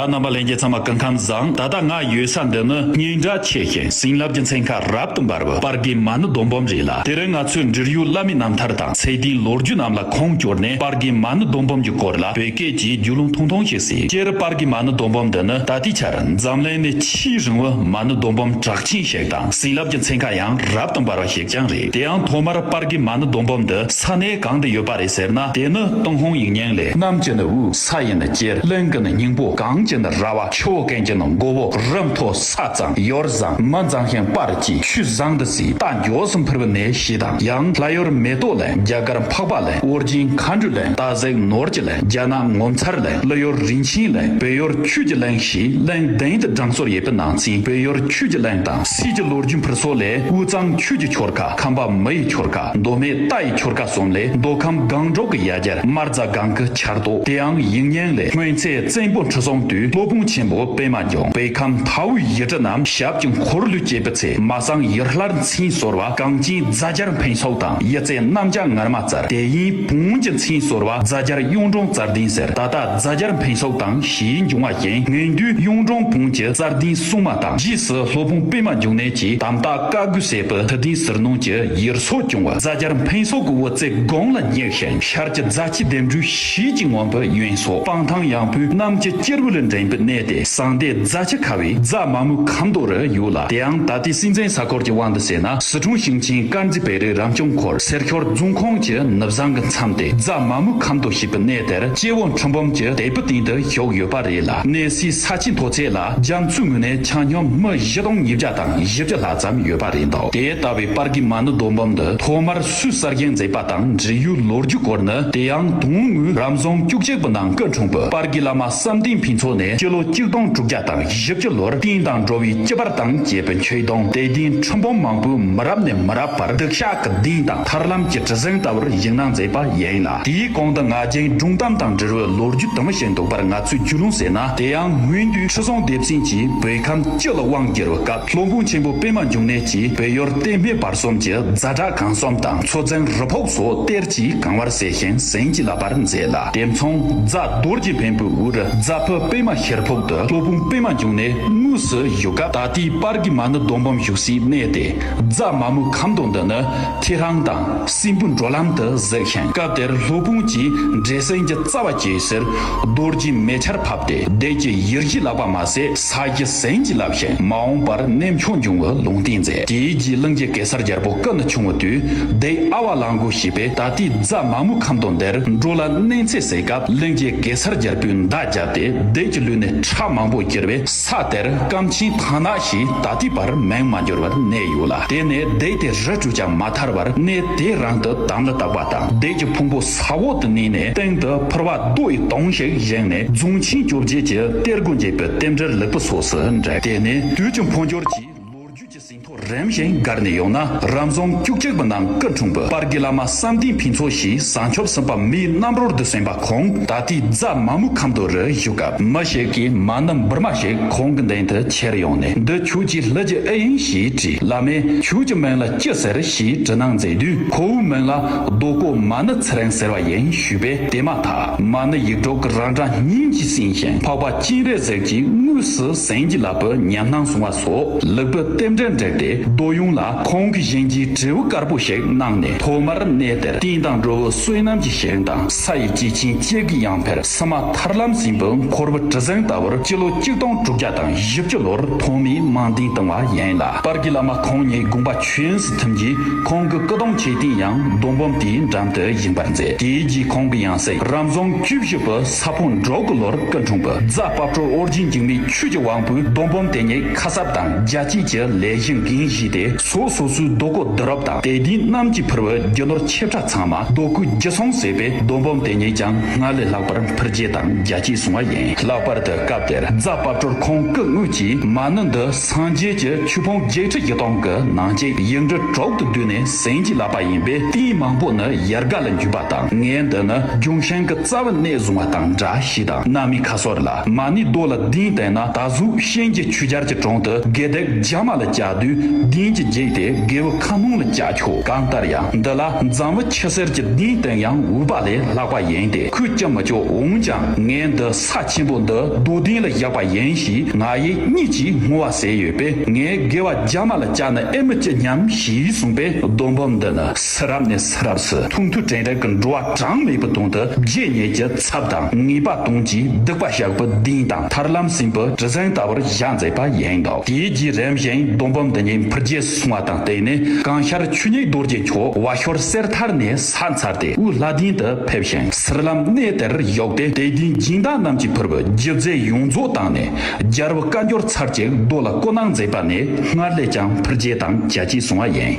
ཨ་རྣམ་པ་ལན་བརྒྱད་ཙམ་མ་བསྐུར་ཁམས་བཟང་ད་ལྟ་ང་ཡོད་ས་འདི་ནི་སྙིང་རྒྱ་ཆེ་ཞིང་བྱིན་རླབས་ཀྱི་མཚན་ཁ་རབ་ཏུ་འབར་བའི་པར་དགེ་མ་ནི་རྡོ་འབུམ་རེད་ལ་དེ་རིང་ང་ཚོའི་འབྲེལ་ཡོད་བླ་མའི་རྣམ་ཐར་དང་ཚད་ལྡན་ལོ་རྒྱུས་རྣམས་ལ་ཁུངས་བསྐྱུར་ནས་པར་དགེ་མ་ནི་རྡོ་འབུམ་གྱི་སྐོར་ལ་བོད་སྐད་ཀྱིས་རྒྱུས་ལུང་ཐུང་ཐུང་ཞིག་གཟིགས་སྤྱིར་པར་དགེ་མ་ནི་རྡོ་འབུམ་འདི་ནི་ད་ལྟའི་ཆར་འཛམ་གླིང་ནས་ཆེས་རིང་བའི་མ་ནི་རྡོ་འབུམ་གྲགས་ཆེན་ཞིག་དང་བྱིན་རླབས་ཀྱི་མཚན་ཁ་ཡང་རབ་ཏུ་འབར་བ་ཞིག་ཀྱང་རེད་དེ་ཡང་ཐོག་མར་པར་དགེ་མ་ནི་རྡོ་འབུམ་འདི་ས་གནས་གང་དུ་ཡོད་པ་རེད་ཟེར་ན་དེ་ནི་ཏུང་ཧོང་ཡིག་རྙིང་ལས་རྣམས་ཀྱི་ནི་དབུས། ས་ཡི་ན་རྒྱལ་བློན་གྱི་ན་སྙིང་པོ་གངས་ཀྱི་ན་ར་བ་ཆུ་བོ་གངས་ཀྱི་ན་མགོ་བོ་རི་མཐོ་ས་གཙང་ཡོར་བཟང་མི་གཙང་ཤིང་སྤར་གྱི་ཆུ་བཟང་དུ་སྲིད་རྟ་མགྱོགས་སུ་འཕུར་བ་ནས་ཞེས་དང་ཡང་ལྷ་ཡོར་མེ་ཏོག་ལས་རྒྱ་དཀར་འཕགས་པ་ལས་དབོར་སྦྱིན་མཁའ་འགྲོ་ལས་རྟ་གཟེགས་ནོར་གྱི་ལས་རྒྱ་ནག་ངོ་མཚར་ལས་ཀླུ་ཡོར་རིན་ཆེན་ལས་བོད་ཡོར་ཁྱུད་ཀྱི་གླིང་ཞེས་གླིང་གདན་དུ་བགྲང་སོར་ཡས་པའི་ནང་ཚན་བོད་ཡོར་ཁྱུད་ཀྱི་གླིང་དང་སྲིད་ཀྱི་ལོ་རྒྱུས་འཕུར་སོ་ལས་དབུས་གཙང་ཁྱུད་ཀྱི་ཁྱོར་ཁ་ཁམས་པ་མི་ཡི་ཁྱོར་ཁ་མདོ་སྨད་རྟ་ཡི་ཁྱོར་ཁ་གསུམ་ལས་མདོ་ཁམས་སྒང་དྲུག་གི་ཡ་གྱལ་དམར་རྫ་སྒང་གི་བྱར་རྟོགས་དེའང་ཡིག་རྙིང་ལས་སྔོན་ཚེ་བཙན་པོ་འཁྲུ་སོང་དུས་སློབ་དཔོན་ཆེན་པོ་པད་མ་རྒྱང་པའི་ཁམས་མཐའ་དབུས་ཡི་གྲི་རྣམས་ཞབས་ཀྱི་འཁོར་ལོས་བཅད་པའི་ཚེ་མ་སངས་ཡར་ལྷར་མཚན་ཟོར་བ་གངས་སྐྱིན་རྫ་སྦྱར་འཕན་སོགས་དང་ཡི་རྩེ་གནམ་ལྕགས་ངར་མ་རྩར་དེ་ཡིན་བོན་གྱི་མཚན་ཟོར་བ་རྫ་སྦྱར་གཡུང་དྲུང་རྩར་ལྡིང་ཟེར་ད་ལྟ་རྫ་སྦྱར་འཕན་སོགས་དང་བཞིའི་འབྱུང་བ་རྐྱེན་ངན་དུས་གཡུང་དྲུང་བོན་གྱི་རྩར་ལྡིང་གསུངས་མ་དང་རྗེས་སུ་སློབ་དཔོན་པད་མ་འབྱུང་གནས་ཀྱིས་དམ་བཏགས་བཀའ་བསྒོས་བསད་པའི་དུ་ལྡིང་ཟུར་ནང་གྱི་ཡིར་སོགས་བྱུང་བ་རྫ་སྦྱར་འཕན་སོགས་ཀྱི་དབུ་རྩེ་སྒོང་ལ་བསྙེགས། དེང་ཤར་གྱི་རྫ་སྐྱི་ལྡེམ་འབྲུའི་གཞིས་ཀྱི་ངོམ་པའི་གཡོན་སོགས་སྤང་ཐང་ཡངས་པོའི་གནམ་གྱི་སྐྱེར་བུ་ལས་འགྲེང་བུ་གནས་ཏེ་ཟངས་ཟླའི་རྫ་ཆུ་ཁ་བའི་རྫ་མ་མུ་ཁ་མདོ་རུ་གཡུགས་ལ་དེའང་ད་ལྟའི་སྲིད་འཛིན་ས་སྐོར་གྱི་དབང་དུ་བྱས་ན་ཟི་ཁྲོང་ཞིང་ཆེན་དཀར་མཛེས་བེ་རི་རང་སྐྱོང་འཁོར་སེར་ཁྱོར་རྫོང་ཁོངས་ཀྱི་ནུབ་བཟང་གི་མཚམས་ཏེ་རྫ་མ་མུ་ཁ་མདོ་ཞེས་པའི་གནས་དེར་སྐྱེ་བོ་འཕྲུལ་འབུམ་གྱི་དལ་བུ་སྟེང་དུ་བཞུགས་ཡོད་པ་རེད་ལ་གནས་སའི་ས་ཆའི་མཐོ་ཚད་ལ་རྒྱ་མཚོའི་ངོས་ནས་ཆ་སྙོམས་སྨི་བཞི་སྟོང་ཉིས་བརྒྱ་དང་བཞི་བརྒྱ་ལྷག་ཙམ་ཡོད་པ་རེད་འདུག་དེ་ལྟ་བུའི་པར་གྱི་མ་ནུ་རྡོ་འབུམ་འདི་ཐོག་མར། སུས་གསར་རྒྱན་མཛད་པ་དང་འབྲེལ་ཡུལ་ལོ་རྒྱུས་སྐོར་ནི་དེ་ཡང་དུང་དངུལ་རམ་རྫོང་བཅུ་གཅིག་པོ་ནང་སྐད་འཁྲུངས་པའི་པར་གྱི་བླ་མ་བསམ་གཏན་ཕུན་ཚོགས་ནས་སྤྱི་ལོ་གཅིག་སྟོང་དྲུག་བརྒྱ་དང་བཞི་བཅུ་ལོར་གཏིང་དང་འགྲོ་བའི་སྐྱི་པར་དང་བཅས་པའི་མཆོད་སྡོང་དད་ལྡན་ཁྲི་འབུམ་མང་པོས་མི་རབས་ནས་མི་རབས་བར་སྡིག་བཤགས་ཀྱི་གདེང་དང་ཐར་ལམ་གྱི་གྲི་གཟེངས་ལྟ་བུར་གཞིགས་གནང་མཛད་པ་ཡིན་ལ་དེའི་གོང་དུ་ང་རྒྱལ་སྒྲུང་གཏམ་དང་འབྲེལ་བའི་ལོ་རྒྱུས་དུ་མ་ཞིག་འདུག་པར་ང་ཚོས་རྒྱུས་ལོན་ཟེར་ན་དེ་ཡང་སྔོན་དུས་ཁྲི་སྲོང་ལྡེ་བཙན་གྱིས་བོད་ཁམས་སྤྱི་ལ་དབང་བསྒྱུར་བའི་སྐབས་ལྷོ་འབངས་ཆེན་པོ་པད་མ་འབྱུང་གནས་ཀྱིས་བོད་ཡུལ་བསྟན་སྨད་པ། གསུམ་གྱི་རྫ་བྲག་གང་གསོམ་དང་མཚོ་རྫིང་རི་ཕོག་སོགས་གཏེར་གྱིས་གང་བར་གསལ་ཞིང་གཟན་གྱིས་བརླབས་པར་མཛད་ལ་དེ་མཚུངས་རྫ་རྡོར་གྱི་བེམ་པོའི་དབུར་རྫ་ཕུ་སྤེལ་མ་ཤེར་ཕོག་ཏུ་སྟོད་ཕུང་སྤེལ་མ་བརྒྱུགས་ནས་དངོས་སུ་བཞུགས་སྐབས་ད་ལྟའི་པར་གྱི་མ་ནི་རྡོ་འབུམ་བཞུགས་སའི་གནས་ཏེ་རྫ་མ་མོ་ཁམ་སྡོང་འདི་ནི་ཁྱེད་རང་དང་སྲིན་པོ་འགྲོ་ལམ་དུ་གཟིགས་ཤིང་སྐབས་དེར་ལྷོ་སྤུངས་ཀྱི་འབྲས་སྲིན་གྱི་རྩ་བ་གྱེས་ཟེར་རྡོར་གྱིས་མེ་ཆར་ཕབ་སྟེ་བདེ་སྐྱིད་ཡིར་བཞེས་ལགས་པ་མ་ཟད། ས་སྐྱ་ཟན་གྱི་བསླབ་གཞི་མ་འོངས་པར་གནས་མཆོག་འབྱུང་བའི་ལུང་བསྟན་མཛད། དེའི་རྗེས་གླིང་རྗེ་གེ་སར་རྒྱལ་པོ་ཀ་ན་ཆུང་བ་དུས་བདེའི་ཨ་བ་ལང་གུ་ཞེས་པས་ད་ལྟའི་རྫ་མ་མུ་ཁ་མདོ་འདིར་འགྲོ་ལ་གནས་མཚེ་བསྲེགས་སྐབས་གླིང་རྗེ་གེ་སར་རྒྱལ་པོས་མདའ་བརྒྱབ་སྟེ་བདེ་གྱི་ལུས་ནས་ཁྲག་མང་པོ་གྱེར་བས་ས་དེར་སྐམ་ཆེན་ཐང་ནག་ཞེས་ད་ལྟའི་བར་མིང་མ་འགྱུར་བར་གནས་ཡོད་ལ་དེ་ནས་བདེ་དེ་རི་བྲུས་ཀྱང་མ་ཐར་བར་གནས་དེའི་རང་དུ་དམ་ལ་བཏགས་པ་དང་བདེ་གྱི་ཕུང་པོ་ས་འོག་ཏུ་བསྣན་ནས་སྟེང་དུ་ཕུར་བ་རྡོ་ཡི་དོང་ཞིག་བཞེངས་ནས་རྫོང་ཆེན་བཅོ་བརྒྱད་ཀྱི་གཏེར་སྒོ་འབྱེད་པའི་རྟེན་འབྲེལ་ལེགས་པོ་སོགས་སུ་འགྲེལ། དེ་ནས་དུས་ཀྱི་འཕོ་འགྱུར་གྱིས་ལོ་རྒྱུས་ཀྱི་ཟིན་ཐོ་རིམ་བཞིན་བགར་ནས་ཡོང་ན་རབ་འབྱམས་སྐྱུག་ཅིག་པོ་ནང་སྐབས་དྲུང་བུ་སྤར་གྱི་བླ་མ་བསམ་སྡིངས་ཕུན་ཚོགས་ཞེས་བཟང་ཕྱོགས་སེམས་དཔའ་མིའི་རྣམ་རོལ་དུ་གསན་པ་ཁོང་ད་ལྟའི་རྫ་མ་མུ་ཁམས་རྡོ་རུ་བཞུགས་སྐབས་མི་ཞིག་གིས་མ་ནི་འབུར་མ་ཞིག་ཁོང་གི་མདུན་དུ་ཁྱེར་ཡོང་ནས་འདི་ཁྱོད་ཀྱི་ལྷུ་གྱི་ཨི་ཡིན་ཞེས་དྲིས་བླ་མས་ཁྱོད་ཀྱི་མིང་ལ་ཅི་ཟེར་ཞེས་དྲི་གནང་མཛད་དུས་ཁོ་བོའི་མིང་ལ་རྡོ་བརྐོ་མ་ནི་ཚེ་རིང་ཟེར་བ་ཡིན་ཞུས་པས་དེ་མ་ཐག་མ་ནི་ཡིད་འཕྲོག་གི་རང་སྒྲ་སྙིང་གཅིག་བསྲིངས་ཤིང་འཕགས་པ་སྤྱན་རས་གཟིགས་ཀྱི་དངོས་སུ་ཟན་གྱི་ལག་པས་ཉམས་སྣང་བཟུང་བ་སོགས་ལུགས་དྲུག་རྟེན་འབྲེལ་འགྲེལ་ཏེ་རྡོ་གཡུང་ལ་ཁོང་གི་བཞིན་གྱི་དྲིལ་བུ་དཀར་པོ་ཞིག་གནང་ནས་ཐོག་མར་གནས་དེར་རྟེན་དང་འགྲོ་བའི་བསོད་ནམས་ཀྱི་ཞིང་དང་ས་ཡི་སྐྱེས་ཆེན་བཅས་ཀྱི་ཡང་འཕེལ་སི་མ་ཐར་ལམ་སྲིན་པོའི་འཁོར་བུ་གྲི་གཟེངས་ལྟ་བུར་སྤྱི་ལོ་གཅིག་སྟོང་དྲུག་བརྒྱ་དང་བཞི་བཅུ་ལོར་ཐོག་མའི་རྨང་འདིང་བཏིང་བ་ཡིན་ལ་པར་གྱི་བླ་མ་ཁོང་ཉིད་དགོངས་པ་ཆོས་ཐིམ་གྱིས་ཁོང་གི་སྐུ་གདུང་ཆེ་ཐིང་ཡང་རྡོ་འབུམ་དེའི་འགྲམ་དུ་ཡིན་པར་མཛད། དེའི་རྗེས་ཁོང་གི་ཡང་སྲིད་རབ་འབྱམས་བཅུ་བཞི་པ་ས་ཕུང་འབྲོག་གི་ལོར་སྐུ་འཁྲུངས། རྫ་དཔའ་བྲོ་དབོར་རྗེ་འཇིགས་མེད་ཆོས་ཀྱི་དབང་པོས་རྡོ་འབུམ་དེ་ཉིད་ཁ་གསབ་དང་རྒྱ་བསྐྱེད་ཀྱི་ལས་གཞི་འགན་བཞེས་ཏེ་སོ་སོ་སོའི་རྡོ་སྐུ་བསྡུ་རུབ་དང་དད་ལྡན་རྣམས་ཀྱིས་ཕུལ་བའི་རྒྱུ་ནོར་ཆེ་ཕྲ་ཚང་མ་རྡོ་སྐུའི་རྒྱུ་ཚོམ་ཟེར་བའི་རྡོ་འབུམ་དེ་ཉིད་ཀྱང་སྔར་ལས་ལྷག་པར་འཕུར་རྒྱས་དང་རྒྱ་བསྐྱེད་བཟུང་བ་ཡིན། ལྷག་པར་དུ་སྐབས་དེར་རྫ་དཔའ་བྲོར་ཁོང་སྐུ་དངོས་ཀྱིས་མ་ཎི་འདི་སངས་རྒྱས་ཀྱི་ཆོས་ཕུང་བརྒྱད་ཁྲི་བཞི་སྟོང་གི་ནང་གཅིག་དབྱིབས་འབྲུ་དྲུག་ཏུ་བསྡུས་ནས་ཟིན་གྱིས་བརླབས་པ་ཡིན་པས་རྟེན་མང་པོ་ནི་ཡར་ག་ལ་འཇུས་པ་དང་ངའི་འདི་ནི་ལྗོན་ཤིང་གི་རྩ་བ་གནས་བཟུང་བ་དང་འདྲ་ཞེས་དང་གནའ་མི་ཁ་སོར་ལ་མ་ནི་རྡོ་ལ་གདན་བཏིང་ན་ད་གཟུགས་གཤེན་གྱི་ཆུ་སྦྱར་གྱི་དྲུང་དུ་དགེ་སྡིག་རྒྱ་མ་ལ་བཅའ་དུས་གདན་གྱིས་འགྱེད་དེ་དགེ་བའི་ཁ་སྣོང་ལ་བཅའ་ཆོག་གང་ལྟར་ཡང་འདི་ལ་འཛམ་བུ་ཕྱི་གསེར་གྱི་གདན་བཏིང་ཡང་འུག་པ་ལས་ལྷག་པ་ཡིན་ཏེ་ཁོས་བསྐྱབ་མི་ཆོག་འོང་ཀྱང་ངའི་འདི་ཚ་ཆེན་པོ་འདི་རྡོ་སྡིངས་ལ་བཞག་པ་ཡིན་ཞེས་ང་ཡི་གཉིད་ཀྱིས་ངུ་བ་ཟས་ཡོད་པས་ངའི་དགེ་བ་རྒྱ་མ་ལ་བཅག་ན་ཨེ་མི་སྐྱིད་སྙམ་ཞེས་གསུངས་པས་རྡོ་འབུམ་འདི་ནི་སི་རབས་ནས་སི་རབས་སུ་ཐུང་ཐུང་བྲེང་བྲེང་གི་འགྲོ་བ་གྲངས་མེད་པོ་དོང་དུ་རྗེས་སྙེག་ཀྱི་ཚབ་དང་ངེས་པ་དོང་གིས་བདུག་པ་ཞག་བུ་ལྡིང་དང་ཐར་ལམ་སྲིན་བུ་གྲི་གཟེངས་ལྟ་བུར་བཞག་མཛད་པ་ཡིན་འདུག་དེའི་རྗེས་རིམ་བཞིན་རྡོ་འབུམ་འདི་ཉིད་འཕུར་རྒྱལ་སྲུང་བ་དང་བསྟུན་ནས་གངས་ཤར་ཆུ་སྙིགས་རྡོ་རྗེ་མཆོག་བ་ཤོར་གསེར་ཐར་ནས་ཚར་ཚར་ཏེ་དབུས་ལྷ་ལྡིང་དུ་ཕེབས་ཤིང་སེར་ལམ་གནས་དེར་ཡོག་སྟེ་དད་ལྡན་སྦྱིན་བདག་རྣམས་ཀྱི་ཕུར་བུ་བརྒྱུད་རྫས་ཡོངས་རྫོགས་བཏང་ནས་སྦྱར་བུ་བཀའ་འགྱུར་ཚར་གཅིག་རྡོ་ལ་བསྐོ་གནང་མཛད་པ་ནས་སྔར་ལས་ཀྱང་ཕུར་རྒྱས་དང་རྒྱ་སྐྱེད་སོང་བ་ཡིན།